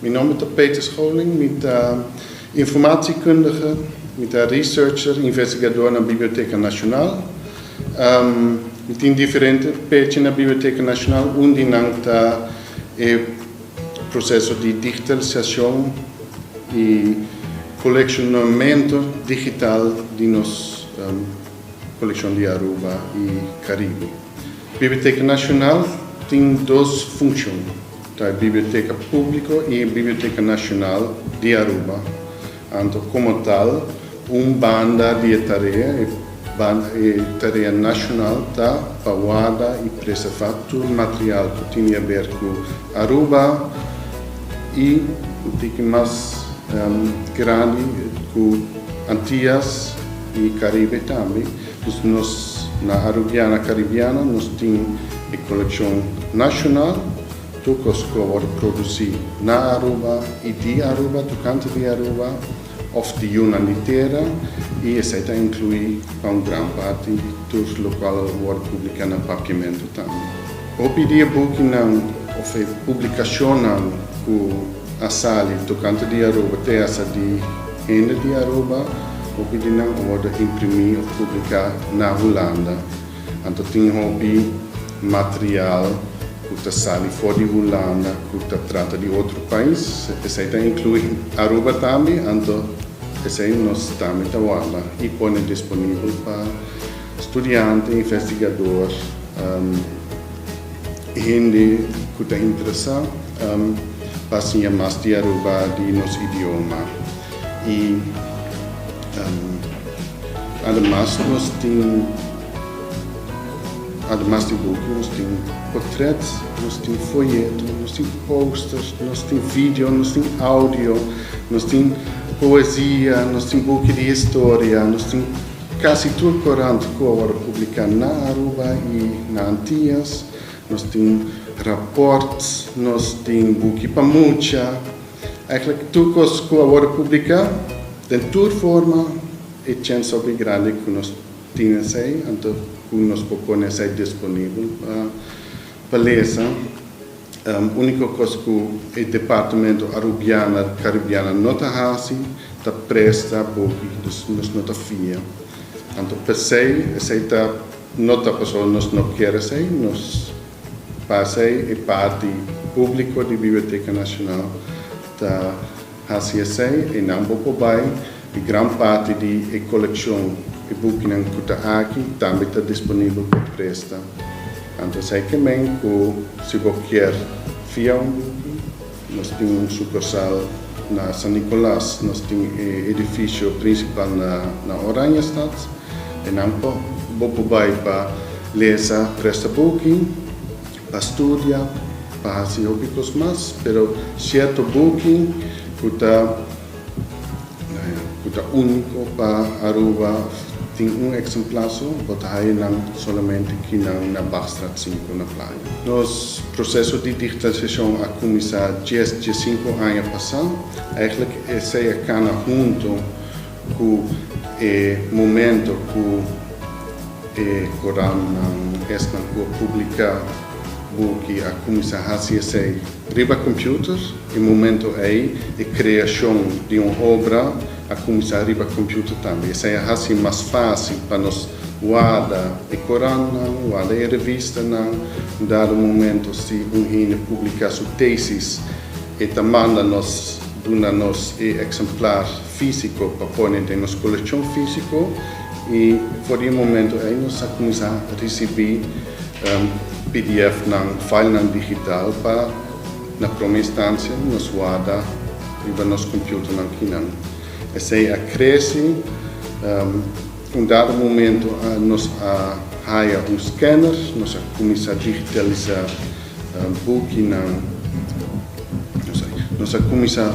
Mi nomber ta Peter Scholing, mi ta informatiekundige, mi ta researcher, investigador na Biblioteca Nacional. Mi tin diferente pechi na Biblioteca Nacional un di nan ta e proceso di digitalisacion y coleccionamento digital di nos. Kolekshon di Aruba i Karibe. Biblioteka Nashonal tin dos funshon, ta e biblioteka públiko i e Biblioteka Nashonal di Aruba. Anto komo tal, un banda di e tarea, e tarea nashonal ta pa warda i preservá tur material ku tin di haber ku Aruba i un tiki mas grandi ku Antias. y Caribe tambe, dus nos na Arubiana Caribiana nos tin e coleccion nacional tur cos cu a worde produci na Aruba y di Aruba, tocante di Aruba of di yunan di tera y esai ta inclui pa un gran parti tur locual a worde publica na Papiamento tambe. Hopi di e bukinan of e publicacionnan cu a sali tokante di Aruba te hasta di hende di Aruba hopi di nan orde imprimí of publiká na Hulanda. Anto tin hopi material ku ta sali for di Hulanda ku ta trata di otro pais. Esei ta inkluí Aruba tambe, anto esei nos tambe ta warda i pone disponibel pa studiante, investigador. Hende ku ta interesá pa siña mas di Aruba di nos idioma. I ademas nos tin, ademas di buku, nos tin potrèt, nos tin foyeto, nos tin póster, nos tin video, nos tin audio, nos tin poesia, nos tin buki di historia, nos tin Casi tur corant cu awor a publica na Aruba y na Antillas, nos tin raport, nos tin buki pa mucha. Eigenlijk tur cos cu awor a publica, den tur forma, e chens ta hopi grandi cu nos tin esey, anto cu nos por pone esey disponibel pa lesa. Úniko kos ku e departamento Arubiana di Karibiana no ta hasi ta presta buki, dus nos no ta fia. Anto p'esei esei ta no ta pasobra nos no kier esei. Nos pa esei e parti públiko di Biblioteka Nashonal ta. Hasi esei e nan bo por bai i gran parti di e kolekshon e bukinan ku ta aki tambe ta disponibel pa presta. Anto esei ke men ku si bo kier fia un buki nos tin un sukursal na San Nicolas, nos tin e edifisio prinsipal na Oranjestad, e nan bo por bai pa lesa, presta buki Pa studia, pa hasi hopi kos mas, pero sierto buki ku ta ku ta úniko pa Aruba tin un eksemplar so, bo ta haya nan solamente kinan na Bakstraat sinku na Playa. Nos proseso di digitalisashon a kuminsá dies, diesinku aña pasá. Eigelijk esei a kana huntu. Cu e momento cu e corannan esnan cu a publica buki a cuminsa haci esey riba computer, e momento ey e creacion di un obra a cuminsa riba computer tambe. Esey a haci mas facil pa nos warda e corannan, warda e revistanan. Un dado momento si un hende publica su tesis e ta manda nos duna nos e exemplar. Físiko pa pone den nos kolekshon físiko i for di e momentu ei nos a kuminsá risibí pdfnan, filenan digital pa na prome instansia nos warda riba nos kompiuternan kinan. Esei a krese, un dado momentu nos a haya un scanner, nos a kuminsá digitalisá bukinan, nos a kuminsá.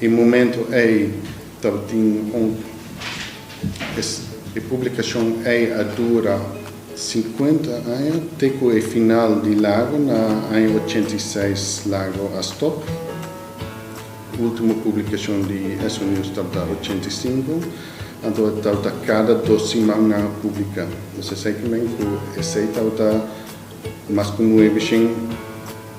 E momento ei tabatin un e publicacion ei a dura cincuenta aña te cu e final di Lago na aña ochenta y seis Lago a stop. Ultimo publicacion di Esso-News tabata ochenta y cinco, anto e tabata cada dos siman nan a publica. Nos esey kimen cu esey tabata. Mas ku nuebe shen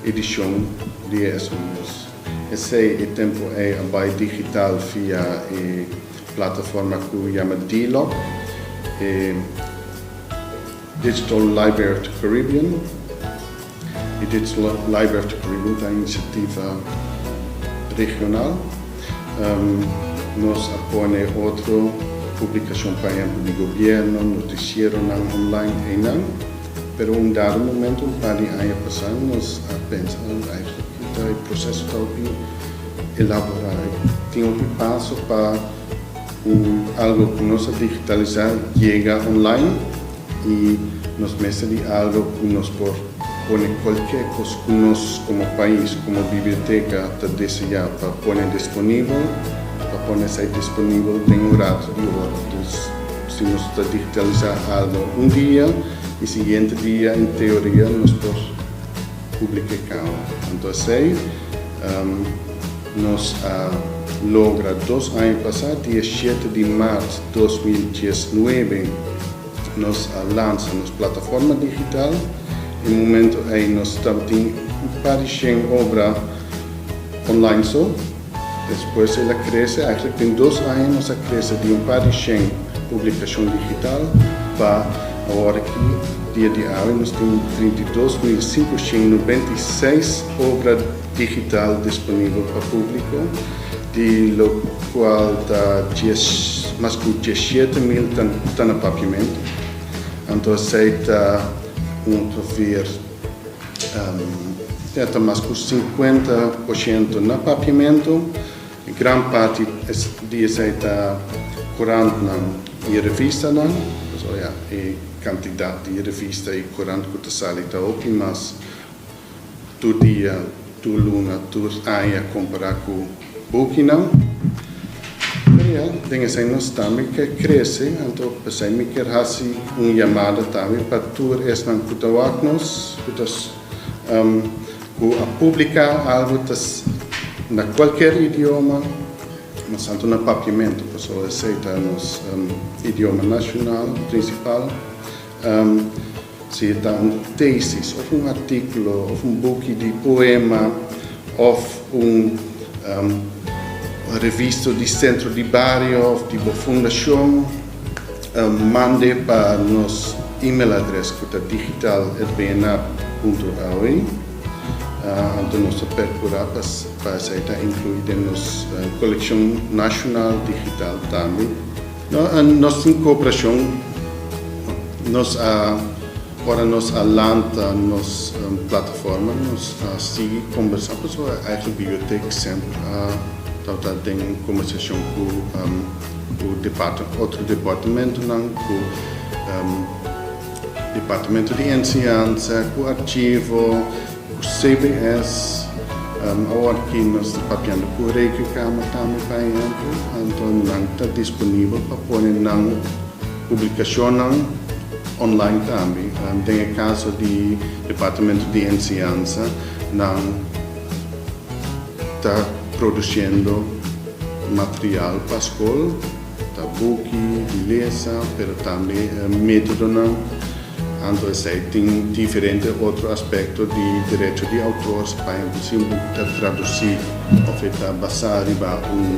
edishon di e estudios. Esei e tempu ei a bai digital via e plataforma ku yama DLOC, e Digital Library of the Caribbean. E Digital Library of the Caribbean ta un inisiativa regional. Nos a pone otro publikashon, por ehempel di gobièrnu, notisieronan online, einan. Pero un dado momento, un par di aña pasá, nos a pensa nan di ai hopi ta e proceso ta hopi elaborá, tin hopi paso pa un algo cu nos a digitalisá yega online y nos mester di algo cu nos por pone cualkier cos cu nos como pais, como biblioteca ta deseá pa pone disponibel, pa pone esai disponibel den un rato di ora. Si nos ta digitalisá algo un dia, e siguiente dia en teoria nos por publiké kau. Anto esei nos a logra dos aña pasá, diesiete di mart dos mil diesnuebe, nos a lansa nos plataforma digital. E momento ei nos tabatin un par di shen obra online so. Despues el a krese, eigenlijk den dos aña nos a krese di un par di shen publikashon digital pa awor aki dia di awe nos tin trinta i dos mil sinkushent nobenta i seis obra digital disponibel pa publiko, di lokual ta dies mas ku diesshete mil ta na papiamentu, anto esei ta un proveer. E ta mas ku sinkuenta por shento na papiamentu. Gran parti di esei ta kurantnan i revistanan. Pasobra ya e kantidat di revista i kurant ku ta sali ta hopi mas tur dia, tur luna, tur aña kompará ku. Bokinan pea den esei nos tambe ke krese, anto p'esei mi kier hasi un yamada tambe pa tur esnan ku ta wak nos, ku ta ku a publiká algu ta na kualkier idioma, mas anto na Papiamentu, pasobra esei ta nos idioma nashunal prinsipal. Si e ta un tesis of un artikulo of un buki di poema of un revisto di Sentro di Bario of di bo fundashon, manda e pa nos email adres ku ta digital@bnab.aw. Anto nos ta perkura pa esei ta inklui den nos kolekshon nashonal digital tambe. Nos tin cooperashon nos a ora nos a lanta nos plataforma nos a sigui combersa paso e eigen biblioteek semper a tabata den combersashon cu otro departamentonan cu departamento di enseñansa cu archivo. CBS, Awor ki nos ta papiando cu Rekenkamer tambe, pa ehemplo, anto nan ta disponibel pa pone nan publicacionnan online tambe. Den e caso di Departamento di Enseñansa, nan ta produciendo material pa scol. Ta buki, bilesa, pero tambe metodonan. Anto esei tin diferente otro aspekto di derecho di autor, pa ehempel si un buk ta tradusí òf e ta basá riba un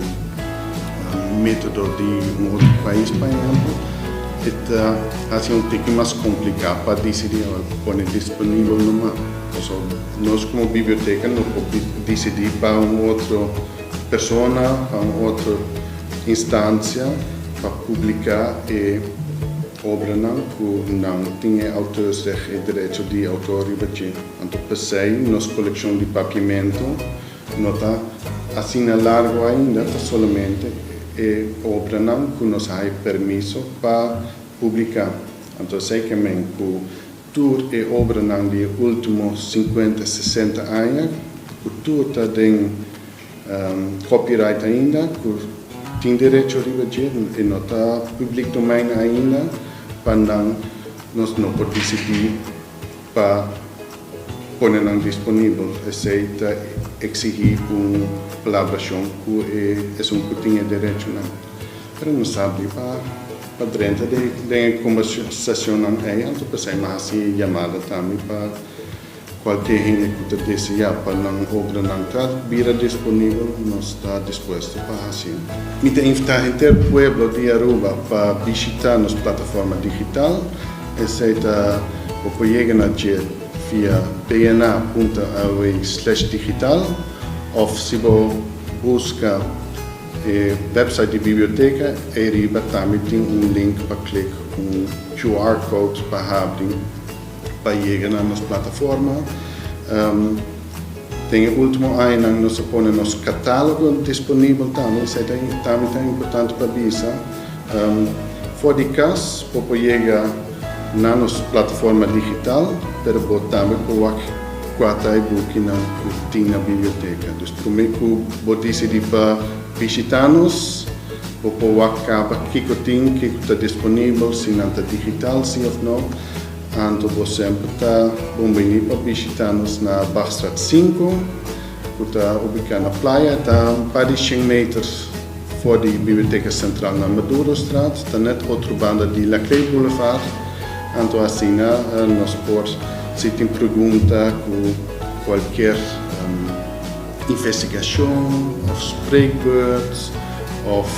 metodo di un otro pais, pa ehempel, e ta hasi un tiki mas kompliká pa disidí ora ku pone disponibel numa. Nos komo biblioteka no por disidí pa un otro. Persona pa un otro instancia pa publica e obranan cu nan tin e auteursreg, e derecho di autor riba dje. Anto p'esey nos coleccion di papiamento no ta asina largo ainda, ta solamente e obranan cu nos a hay permiso pa publica. Anto esey ke men cu Tur e obranan di e ultimo sinkuenta, sesenta aña, ku tur ta den copyright ainda, ku tin derecho riba dje, e no ta public domein ainda, pa nan nos no por disidí pa pone nan disponibel, esei ta eksigí un kolaborashon ku e esun ku tin e derechonan. Pero nos ta abrí pa pa drenta den e conversacionnan ei anto pa esei. Nos hasi yamada tambe pa cualkier hende cu ta deseá pa nan obranan ta bira disponibel, nos ta dispuesto pa hacinan. Mi ta invitá henter pueblo di Aruba pa bishitá nos plataforma digital. Esei ta bo por yega na dje via bna punto aw slash digital of si bo busca. E website di biblioteka ei riba tambe tin un link pa klik un QR code pa habri pa yega na nos plataforma. Den e ultimo añanan nos a pone nos katalogo disponibel tambe, esei ta tambe ta importante pa bisa. For di kas bo por yega. Na nos plataforma digital, pero bo tambe por wak cuata e bukinan cu tin na biblioteca. Dus prome cu bo dicidi pa bishita nos, bo por wak caba kico tin, kico ta disponibel, si nan ta digital si of no. Anto bo semper ta bonbini pa bishita nos na Bagstraat sinku. ku ta ubiká na playa, ta un par di shen meter for di Biblioteka Sentral na Madurostraat, ta nèt otro banda di Laclede Boulevard, anto asina nos por si tin pregunta ku kualker investigashon òf spreekbeurt òf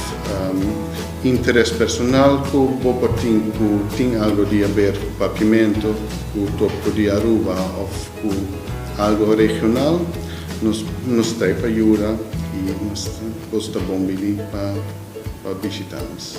interes personal ku bo por tin ku tin algu di haber ku Papiamento ku Topco di Aruba òf. Ku algo regional nos nos trai pa yuda i nos bos ta bon bini pa pa bishita nos.